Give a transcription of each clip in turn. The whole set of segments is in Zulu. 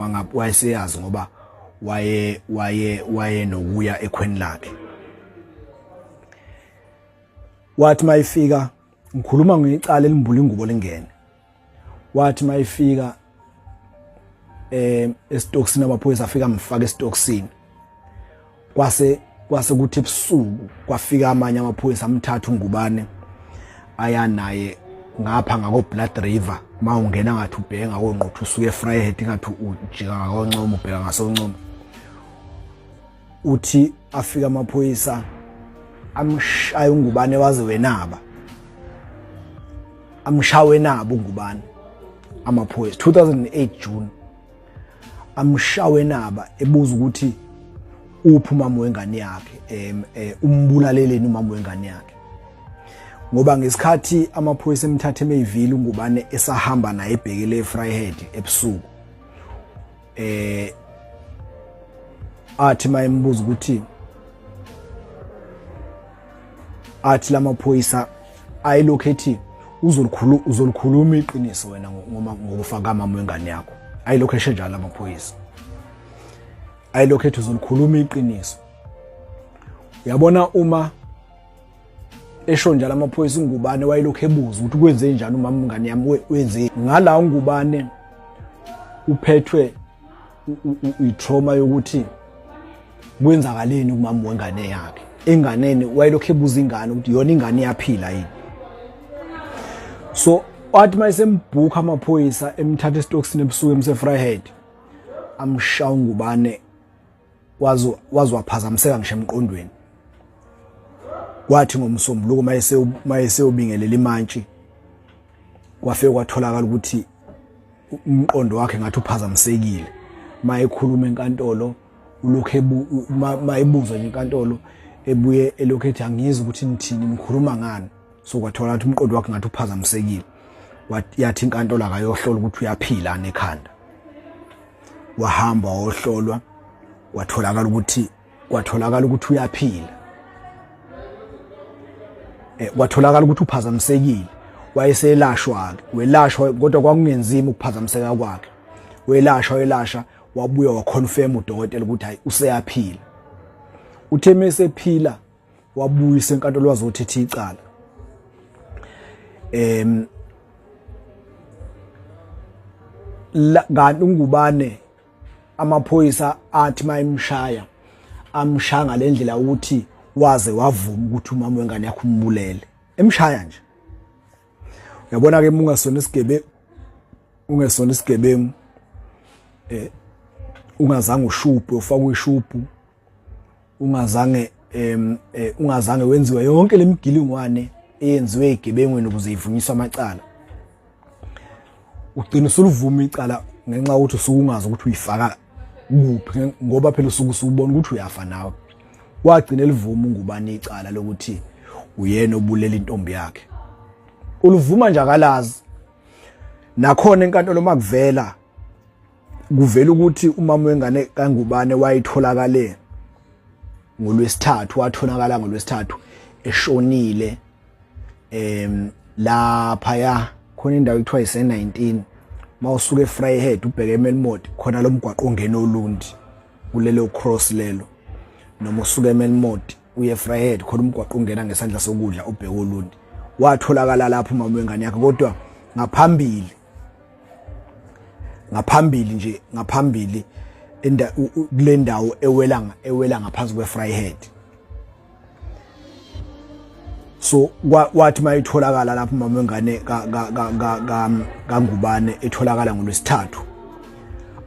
wangabe wayeseyazi ngoba waye waye waye nokuya ekhweni lakhe wathi mayifika ngikhuluma ngecala elimbula ingubo lingene wathi mayifika eh esitokisini amaphoyisa afika mfaka esitokisini kwase kwase kuthi ebusuku kwafika amanye amaphoyisa amthatha uNgubane aya naye ngapha ngako Blood River uma ungena ngathi ubheka ngako Nquthu usuke eFryhead ngathi ujika ngako Ncomo ubheka ngaso Ncomo uthi afika amaphoyisa amshaya uNgubane waze wenaba amshawe nabo uNgubane amaphoyisa 2008 June amshawe naba ebuza ukuthi uphi umama wengane yakhe em eh, umbulaleleni umama wengane yakhe ngoba ngesikhathi amaphoyisa emthathe emeyivile ungubane esahamba naye ebhekele eFryhead ebusuku eh athi mayembuza ukuthi athi lamaphoyisa ayilokhu ethi uzolikhuluma uzolikhuluma iqiniso wena ngoma ngokufa kamama wengane yakho ayilokhu eshe njalo amaphoyisa ayilokhu ethi uzolikhuluma iqiniso uyabona uma esho njalo amaphoyisa ungubane wayelokhu ebuza ukuthi kwenze njani umama umngane yami wenze ngala ungubane uphethwe i-trauma yokuthi kwenzakaleni kumama wengane yakhe enganeni wayelokhu ebuza ingane ukuthi yona ingane iyaphila yini so wathi uma esembhukha amaphoyisa emthatha esitokisini ebusuku emsefryhead amshawa ungubane waze waphazamiseka ngisho emqondweni kwathi ngomsombuluko mayeseyobingelela imantshi kwafike kwatholakala ukuthi umqondo wakhe ngathi uphazamisekile uma ekhuluma enkantolo ulokhu uma ebuzwa nje enkantolo ebuye elokhu ethi angizi ukuthi nithini nikhuluma ngani so kwathola ukuthi umqondo wakhe ngathi uphazamisekile yathi inkantolo akayohlola ukuthi uyaphila anekhanda wahamba wayohlolwa watholakala ukuthi kwatholakala ukuthi uyaphila eh, kwatholakala ukuthi uphazamisekile wayeselashwa-ke welashwa kodwa kwakungenzima ukuphazamiseka kwakhe welashwa welasha wabuya waconfirm udokotela ukuthi hayi useyaphila uthe mesephila wabuya isenkantolo wazothetha icala em la kanti ungubane amaphoyisa athi mayimshaya amshaya ngalendlela ukuthi waze wavuma ukuthi umama wengane yakho umbulele emshaya nje uyabona ke mungasona isigebe ungesona isigebengu eh ungazange ushubhe ufaka ishubhu ungazange um eh, ungazange wenziwe yonke lemigilingwane eyenziwe igebengweni ukuze ivunyiswe amacala ugcina usuluvuma icala ngenxa ukuthi usukungazi ukuthi uyifaka kuphi ngoba phela usuke usubona ukuthi uyafa nawe wagcina elivuma ungubani icala lokuthi uyena obulela intombi yakhe uluvuma nje akalazi nakhona enkantolo makuvela kuvela ukuthi umama wengane kaNgubane wayitholakale ngolwesithathu wathonakala ngolwesithathu eshonile em lapha ya khona indawo ekuthiwa ise 19 mawusuke eFryhead ubheke eMelmont khona lo mgwaqo ongena oLundi kulelo cross lelo noma usuke eMelmont uye eFryhead khona umgwaqo ungena ngesandla sokudla ubheke oLundi watholakala lapho umama wengane yakhe kodwa ngaphambili ngaphambili nje ngaphambili kule ndawo ewela ewela ngaphansi kwe-fryhead so wathi uma itholakala lapho umama wengane kangubane etholakala ngolwesithathu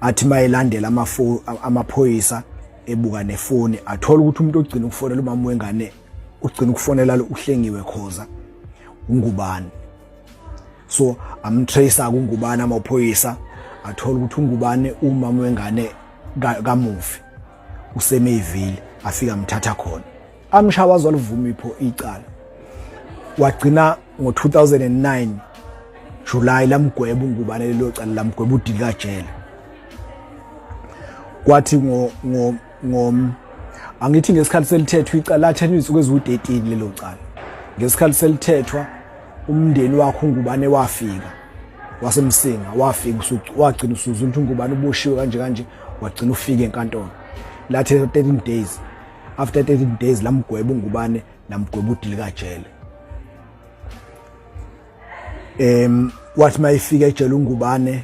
athi uma elandela amaphoyisa ebuka nefoni athola ukuthi umuntu ogcina ukufonela umama wengane ugcina ukufonela uhlengiwe khoza ungubane so amtracer kungubani amaphoyisa athola ukuthi ungubani umama wengane kamufi usemeyivile afika amthatha khona amsha wazolivuma ipho icala wagcina ngo-2009 July lamgweba ungubane lelo cala lamgweba udili kajele kwathi ngo ngom angithi ngesikhathi selithethwa icala lathetha izinsuku eziwu-13 lelo cala ngesikhathi selithethwa umndeni wakho ungubane wafika wasemsinga wafika wagcina usuza ukuthi ungubane uboshiwe kanje kanje wagcina ufike enkantolo lathetha 13 days after 13 days lamgweba ungubane lamgweba udilikajele em wathi mayifika ejele ungubane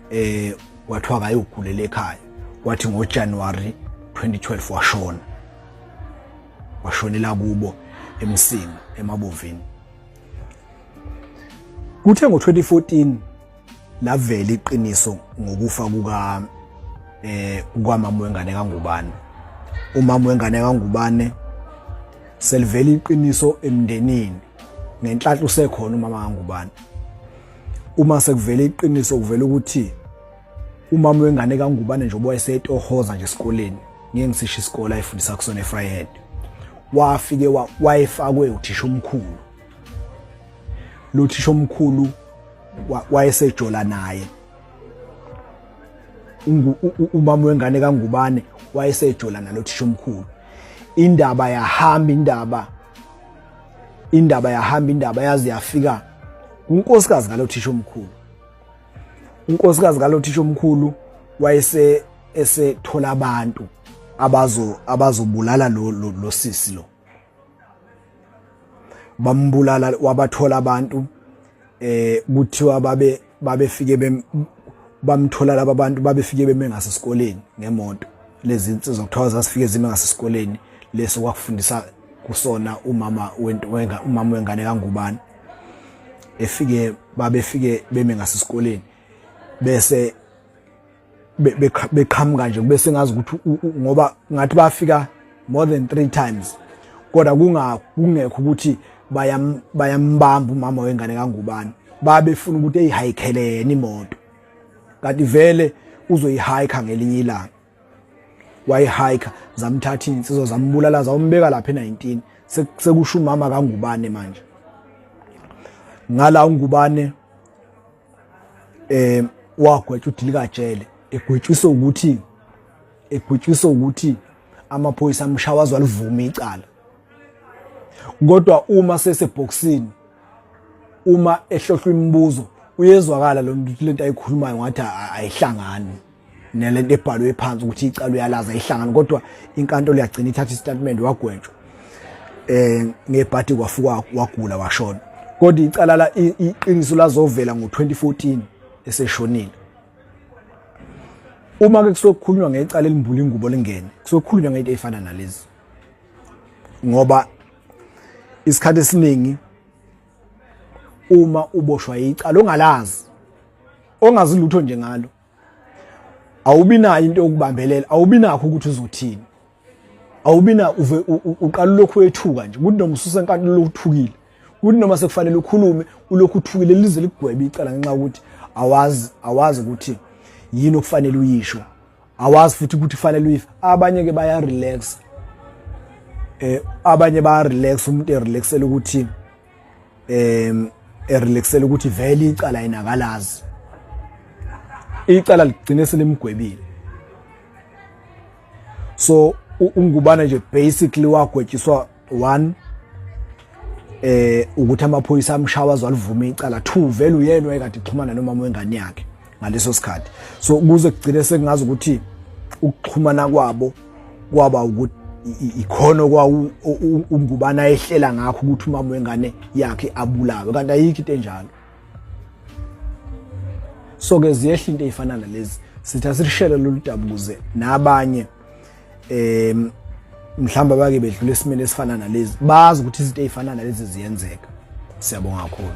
eh kwathiwa akayogulela ekhaya wathi ngoJanuary 2012 washona washonela kubo emsinga emabovini kuthe ngo2014 lavela iqiniso ngokufa kuka eh kukamama wengane kaNgubane umama wengane kaNgubane selivela iqiniso emndenini ngenhlanhla usekhona umama kaNgubane uma sekuvele iqiniso kuvela ukuthi umama wengane kaNgubane nje obowayesetohoza nje esikoleni ngeke ngisisho isikole ayifundisa kusona eFryhead wafike wayefakwe uthisha omkhulu lo thisha omkhulu wayesejola naye umama wengane kaNgubane wayesejola nalo thisha omkhulu indaba yahamba indaba indaba yahamba indaba yaze yafika unkosikazi ngalo thisha omkhulu unkosikazi ngalo thisha omkhulu wayese esethola abantu abazo abazobulala lo lo sisi lo bambulala wabathola abantu eh kuthiwa babe babefike bamthola laba bantu babefike beme ngasesikoleni ngemoto lezi insizwa kuthiwa zasifike zime ngasesikoleni leso kwakufundisa kusona umama wenga umama wengane kangubani efike babefike beme ngasesikoleni bese beqhamuka nje kube sengazi ukuthi ngoba ngathi bafika more than 3 times kodwa kunga kungekho ukuthi bayam bayambamba umama wengane kangubani babefuna ukuthi eyihayikheleni imoto kanti vele uzoyihayikha ngelinye ilanga wayihayikha zamthatha insizwa zambulala zawumbeka lapha e19 sekusho umama kangubane manje ngala ungubane eh wagwetshwa udilikajele egwetshiswa ukuthi egwetshiswa ukuthi amaphoyisa amshawazwa livuma icala kodwa uma sesebhoksini uma ehlohlwa imibuzo uyezwakala lo muntu lento ayikhulumayo ngathi ayihlangani nelento ebhalwe phansi ukuthi icala uyalaza ihlangana kodwa inkantolo yagcina ithatha istatimende wagwetshwa eh ngebhadi kwafuka wagula washona kodwa icala la iqiniso lazovela ngo2014 eseshonile uma ke kusokhulunywa ngecala elimbula ingubo lingene kusokhulunywa ngento efana nalezi ngoba isikhathi esiningi uma uboshwa icala ongalazi ongazi lutho nje ngalo awubi nayo into yokubambelela awubi nakho ukuthi uzothini awubi na uve uqala lokhu ethuka nje ukuthi noma ususa enkantolo lokuthukile ukuthi noma sekufanele ukhulume ulokhu uthukile lize ligwebe icala ngenxa ukuthi awazi awazi ukuthi yini okufanele uyisho awazi futhi ukuthi kufanele uyife abanye ke baya relax eh abanye baya relax umuntu e relaxela ukuthi em erelaxela ukuthi vele icala inakalazi icala ligcine selimgwebile so ungubana nje basically wagwetshiswa one eh ukuthi amaphoyisa amshawa azwalivuma icala two vele uyena wayekade ixhumana nomama wengane yakhe ngaleso sikhathi so kuze kugcine sekungazi ukuthi ukuxhumana kwabo kwaba ukuthi ikhono kwa ungubana ehlela ngakho ukuthi umama wengane yakhe abulawe kanti ayikho into enjalo so ke ziyehla into eyifana nalezi sitha sirishele lolu dabu kuze nabanye em mhlawumbe abake bedlula esimeni esifana nalezi bazi ukuthi izinto ezifana nalezi ziyenzeka siyabonga kakhulu